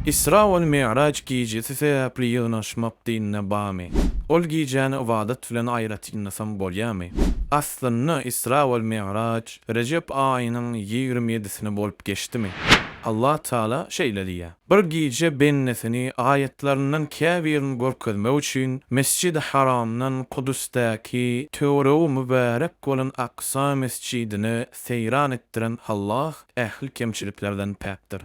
Isra we Mi'raç gijesi sebäpli ýygnaşmak dinde barmy? Ol gijäni ybadat bilen aýratynlasaň bolýarmy? Aslynda Isra we Mi'raç Rejep aýynyň ýigrimi ýedisine bolup geçdimi? Allah Tagala şeýle diýýär, Bir gije bendesini aýatlaryndan käbirini görkezmek üçin Mesjidi Haramdan Kudusdaky töweregi mübärek bolan Aksa mesjidine seýran etdiren Allah ähli kemçiliklerden päkdir.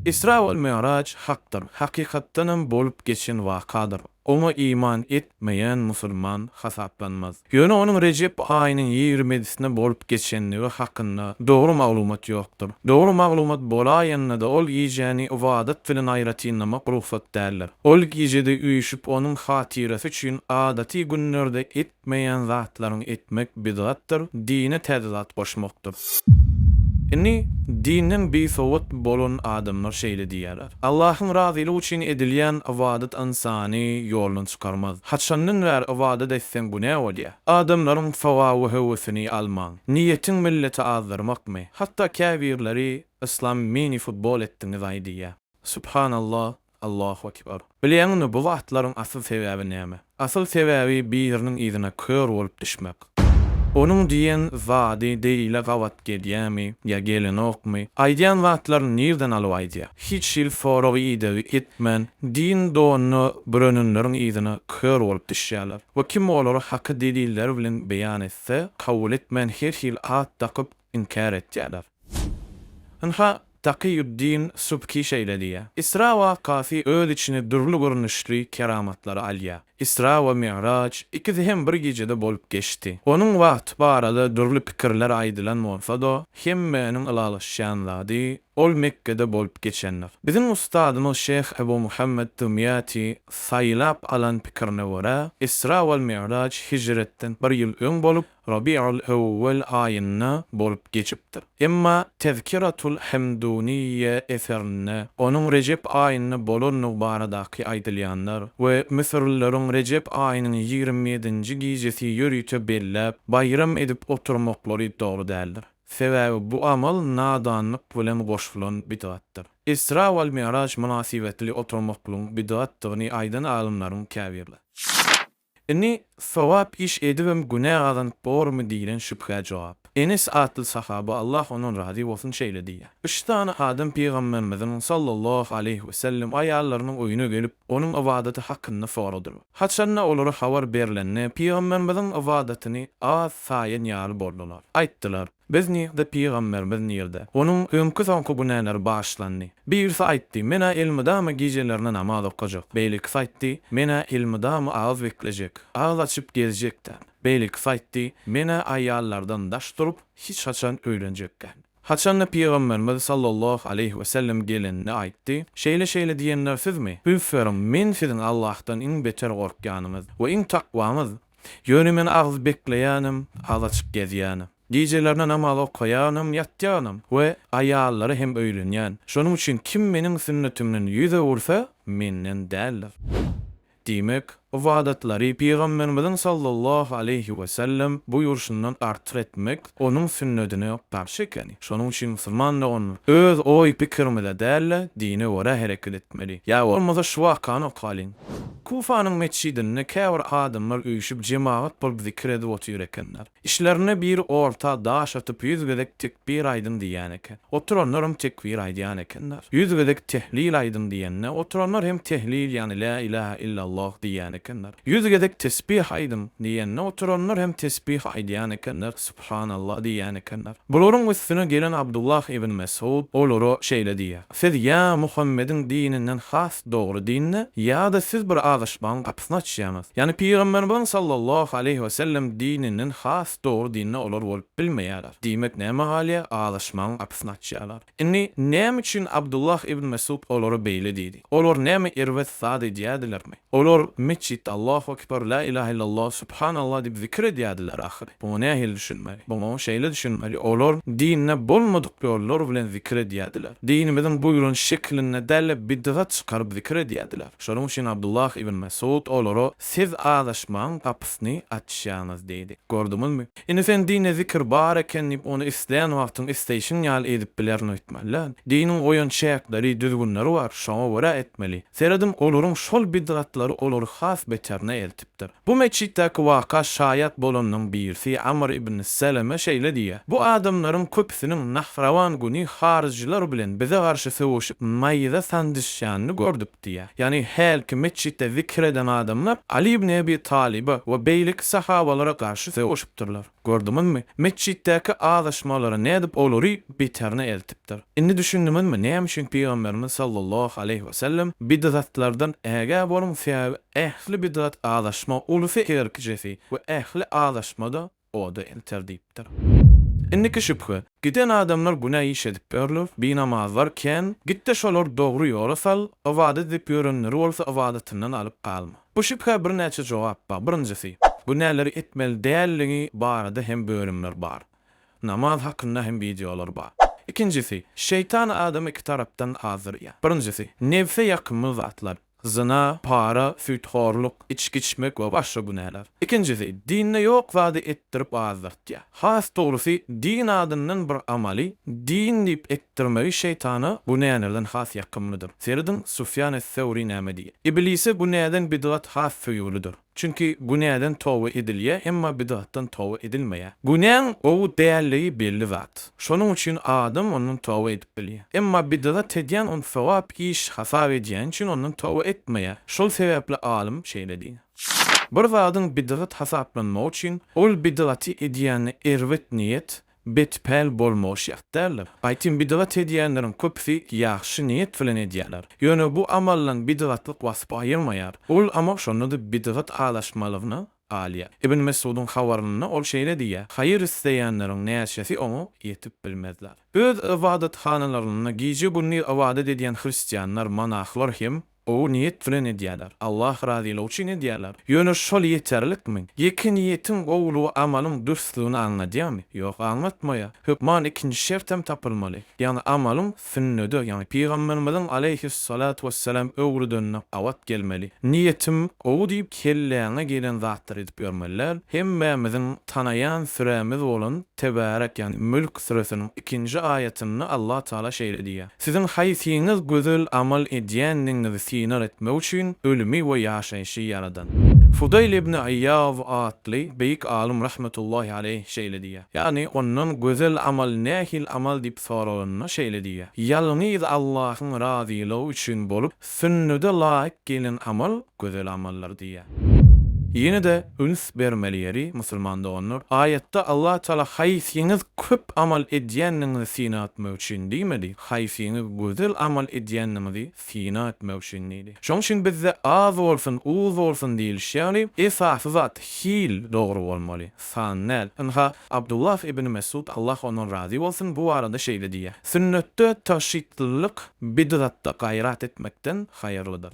Isra we Mi'raj hakdyr, hakykatdanam bolup geçen wakadyr. Oňa iman etmeýän musulman hasaplanmaz. Ýöne onuň Rejep aýynyň ýigrimedisinde bolup geçendigi hakynda dogry maglumat ýokdur. Dogry maglumat bolaýanda-da ol gijäni ybadat bilen aýratynlamak rugsat däldir. Ol gijede üýşüp onuň hatyrasy üçin adaty günlerde et etmeýän zatlaryňy etmek bidgatdyr, dine täze zat goşmakdyr. Indi dinden bisowat bolan adamlar şeýle diýýärler, Allahyň razylygy üçin edilýän ybadat ynsany ýoldan çykarmaz. Haçandan bäri ybadat etseň bu nä bolýar? Adamlaryň sogaby höwesini almaň. Niýetiň milleti azdyrmakmy? Hatda käbirleri Yslam mini-futbol etdiňizaý diýýär. Subhanallah, Allahu Ekber. Bilýäňmi bu zatlaryň asyl sebäbi näme? Asyl sebäbi biriniň yzyna kör bolup düşmek. Onuň diýen zady Deýle gabat gedýämi ýa gelenokmy? Aýdýan zatlaryny nirden alyp aýdýa? Hiç hili sorag-idegi etmän din donuna bürenenleriň yzyna kör bolup düşýäler. We kim olary haky deliller bilen beýan etse kabul etmän her hili at dakyp inkär etýäler. Ynha, Takyýuddin Subki şeýle diýýär, Isra wakasy öz içine dürli görnüşli keramatlary alýar. Isra we Mi'raç ikisi hem bir gijede bolup geçdi. Onuň wagty barada dürli pikirler aýdylan bolsa-da, hemmäniň ylalaşýan zady, ol Mekgede bolup geçendir. Biziň ustadymyz şeýh Ebu Muhammet Dymýaty saýlap alan pikirine görä, Isra we Mi'raç hijretden bir ýyl öň bolup, Rabiýul-Ewwel aýynda bolup geçipdir. Emma Tezkiratul-Hemduniyýe eserinde onuň Rejep aýynda bolandygy baradaky aýdylýanlar we müsürlileriň Rejep aýynyň ýigrimi ýedinji gijesi ýörite belläp, baýram edip oturmaklary dogry däldir. Sebäbi bu amal nadanlyk bilen goşulan bidgatdyr. Isra we Mi'raç mynasybetli oturmaklygyň bidgatdygyny aýdan alymlaryň käbirleri. Indi, sogap iş edibem günä gazanyp bormy diýlen şübhä jogap. Enes atly sahaba, Allah ondan razy bolsun, şeýle diýýär, Üç sany adam Pygamberimiziň, sallallahu aleýhi we sellem, aýallarynyň öýüne gelip, onuň ybadaty hakynda soradylar. Haçan-da olara habar berlende, Pygamberimiziň ybadatyny az saýan ýaly boldular. Aýtdylar. Biz nirde, pygamberimiz nirde? Onuň öňki-soňky günäleri bagyşlandy. Birisi aýtdy, Men-ä elmydama gijelerine namaz okajak. Beýlekisi aýtdy, Men-ä elmydama agyz beklejek, agyz açyp gezjek däl. Beýlekisi aýtdy, Men-ä aýallardan daş durup, hiç haçan öýlenjek däl. Haçanda pygamberimiz sallallahu aleýhi wesellem gelende aýtdy, Şeýle-şeýle diýenler sizmi? Üns beriň, men siziň Allahdan iň beter gorkýanyňyz we iň takwamyz, Ýöne men az bekleýänim, az açyk gezýänim. Gijelerine namaz okaýanym, ýatýanym we aýallara hem öýlenýän. Şonuň üçin kim meniň sünnetimden ýüz öwürse, menden däldir. Diýmek, ybadatlary Pygamberimiziň sallallahu aleýhi wesellem buýruşyndan artyk etmek Onuň sünnedine garşy ekeni. Şonuň üçin musulman doganlar, öz oý-pikirimize däl-de, dine görä hereket etmeli. Ýa bolmasa şu wakany okalyň. Kufanyň metjidinde käbir adamlar üýşüp jemagat bolup zikir edip otyr ekenler. Içlerinde biri orta daş atyp ýüz gezek tekbir aýdyň diýýän eken. Oturanlar hem tekbir aýdýan ekenler. Ýüz gezek tehlil aýdyň diýende, oturanlar hem tehlil ýagny lä ilahe illalloh diýýän ekenler. Ýüz gezek tesbih aýdyň! diýende, oturanlar hem tesbih aýdýan ekenler, Subhanallah diýýän ekenler. Bularyň üstüne gelen Abdullah ibn Mesud olara şeýle diýýär, Siz ýa Muhammediň dininden has dogry dinde, ýa-da siz bir azaşmagyň gapysyny açýaňyz. Ýagny Pygamberimiziň sallallahu aleýhi we sellem dininden has dogry dinde olar bolup bilmeýärler. Diýmek, näme galýar? Azaşmagyň gapysyny açýarlar. Indi, näme üçin Abdullah ibn Mesud olara beýle diýdi? Olar näme erbet zat edýärdilermi? Olar metjitde Allahu ekber, la ilahe illallah, subhanallah diýip zikir edýärdiler ahyry. Muňa nähili düşünmeli? Muňa şeýle düşünmeli, olar dinde bolmadyk ýollar bilen zikir edýärdiler. Dinimiziň buýran şeklinde däl-de bidgat çykaryp zikir edýärdiler. Şonuň üçin Abdullah ibn Mesud olara siz azaşmagyň gapysyny açýaňyz diýdi. Gördüňizmi? Indi sen dinde zikir bar eken diýip ony islän wagtyň isleýşiň ýaly edip bilerin öýtmeli däl. Diniň goýan çäkleri, düzgünleri bar, şoňa görä etmeli. Seredim olaryň şol bidgatlary olary has beterine eltipdir. Bu metjitdäki waka şaýat bolanyň birisi Amr ibn Seleme şeýle diýýär, Bu adamlaryň köpüsiniň Nahrawan güni haryjylar bilen bize garşy söweşip naýza sanjyşýanyny gördük. Diýýär. Ýagny hälki metjitde zikir eden adamlar Aly ibn Ebi Talyba we beýleki sahabalara garşy sögüşipdirler. Gördüňizmi, metjitdäki azaşmalary nädip olary beterine eltipdir. Indi düşündiňizmi, näme üçin Pygamberimiz sallallahu aleýhi wesellem, Bidgatlardan ägä boluň, sebäbi ähli bidgat azaşma, ulusy herkijesi we ähli azaşma-da, oda elter diýipdir. Indiki şübhe, giden adamlar günä iş edipdirler, binamazlar kän, git-de şolary dogry ýola sal, ybadat edip ýörenleri bolsa ybadatyndan alyp galma. Bu şübhä birnäçe jogap bar, birinjisi, günäleri etmeli däldigi barada hem bölümler bar. Namaz hakynda hem wideolar bar. Ikinjisi, şeýtan adamy iki tarapdan azdyrýar. Birinjisi, nebse ýakymly zatlar. Zyna, para, süýthorluk, içgi içmek we başga günäler. Ikinjisi, dinde ýok zady etdirip azdyrtýar. Has dogrusy, din adyndan bir amaly din diýip etdirmegi şeýtana günälerden has ýakymlydyr. Serediň, Sufýan es-Sewri näme diýýär? Iblise günäden bidgat has söýgülidir. Çünki günäden toba edilýär, emma bidgatdan toba edilmeýär. Günäň gowy dälligi belli zat. Şonuň üçin adam ondan toba edip bilýär. Emma bidgat edýän ony sogap iş hasap edýäni üçin ondan toba etmeýär. Şol sebäpli alym şeýle diýýär. Bir zadyň bidgat hasaplanmagy üçin, ol bidgaty edýände erbet niýet, Bet-päl bolmagy şert däldir. Aýtym bidgat edýänleriň köpüsi ýagşy niýet bilen edýärler. Ýöne bu amaldan bidgatlyk waspy aýyrmaýar. Ol amal şonda-da bidgat alaşmalygyna galýar. Ibn Mesudyň habarynda ol şeýle diýýär, Haýyr isleýänleriň näçesi oňa ýetip bilmezler. Öz ybadathanalaryna gije-gündiz ybadat edýän hristianlar, monahlar hem Gowy niýet bilen edýärler, Allah razylygy üçin edýärler. Ýöne şol ýeterlikmi? Ýeke niýetiň gowulygy amalyň dürsdügini aňladýarmy? Ýok, aňlatmaýar. Hökman ikinji şert hem tapylmaly. Ýagny amalyň sünnede, ýagny Pygamberimiziň aleýhis-salatu wes-selam öwrüdenine gabat gelmeli. Niýetim gowy diýip kelläňe gelen zatlary edip ýörmeli däl. Hemmämiziň tanaýan sürämiz bolan Tebarek ýagny Mülk süresiniň ikinji aýatynda Allah Taala şeýle diýýär. Siziň haýsyňyz gözel amal edýändigiňizi synag etmek üçin ölümi we ýaşaýşy ýaradan. Fudaýl ibn Aýýaw atly beýik alym rahmetullahi aleýh şeýle diýýär, ýagny ondan gözel amal nähili amal diýip soralanda şeýle diýýär, Ýalňyz Allahyň razylygy üçin bolup, Sünnede laýyk gelnen amal gözel amaldyr diýýär. Ýene-de üns bermeli ýeri, musulman doganlar, aýatda Allah Taala haýsyňyz köp amal edýändigiňizi syna etmek üçin diýmedi, haýsyňyz gözel amal edýändigiňizi syna etmek üçin diýdi. Şonuň üçin bizde az bolsun, uz bolsun diýilişi ýaly, esasy zat, hil dogry bolmaly, San nel, ynha, Abdullah ibn Mesud, Allah ondan razy bolsun, bu barada şeýle diýýär, Sünnetde tagşytlylyk bidgatda gaýrat etmekden haýyrlydyr.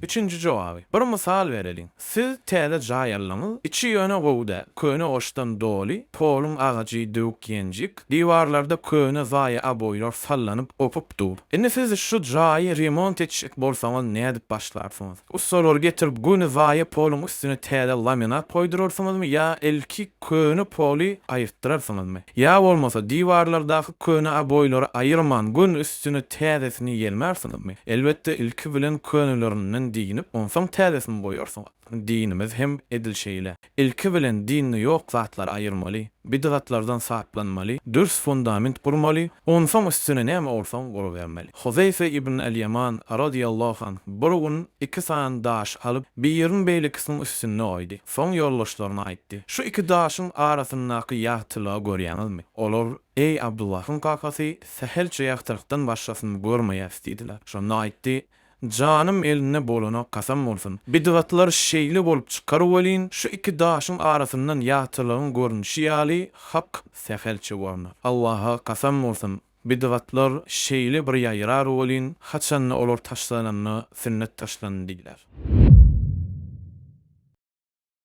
Üçünji jogaby, Bir mysal bereliň. Siz täze jaý aldyňyz, içi ýöne gowy däl, köne goşdan doly, poluň agajy döwük-ýenjik, diwarlarda köne zaýa aboýlar sallanyp-gopup dur. Indi siz şu jaýy remont etjek bolsaňyz nädip başlarsyňyz? Ussalar getirip göni zaýa poluň üstüne täze laminat goýdurarsyňyzmy ýa ilki köne poly aýyrtdyrarsyňyzmy? Ýa bolmasa diwarlardaky köne oboýlary aýyrman göni üstüne täzesini ýelmärsiňizmi? Elbetde ilki bilen könelerinden diýnip onsoň täzesini goýarsyňyz. Diýnimiz hem edil şeýle. Ilki bilen dinde ýok zatlary aýyrmaly, bidgatlardan saplanmaly, dürs fundament gurmaly, onsoň üstüne näme bolsaň gurubermeli. Huzeýfe ibn al-Ýaman, radyýallahu anh, bir gün iki sany daş alyp, birini beýlekisiniň üstünde goýdy. Soň ýoldaşlaryna aýtdy, Şu iki daşyň arasyndaky ýagtylygy görýäňizmi? Olar, Eý, Abdullahyň kakasy, sähelçe ýagtylykdan başgasyny görmeýäris diýdiler. Şonda aýtdy, Janym elinde bolana kasam bolsun. Bidgatlar şeýle bolup çykar welin, şu iki daşyň arasyndan ýagtylygyň görnüşi ýaly hak sähelçe görner. Allaha kasam bolsun, bidgatlar şeýle bir ýaýrar welin, haçanda olar taşlananda sünnet taşlandy diýiler.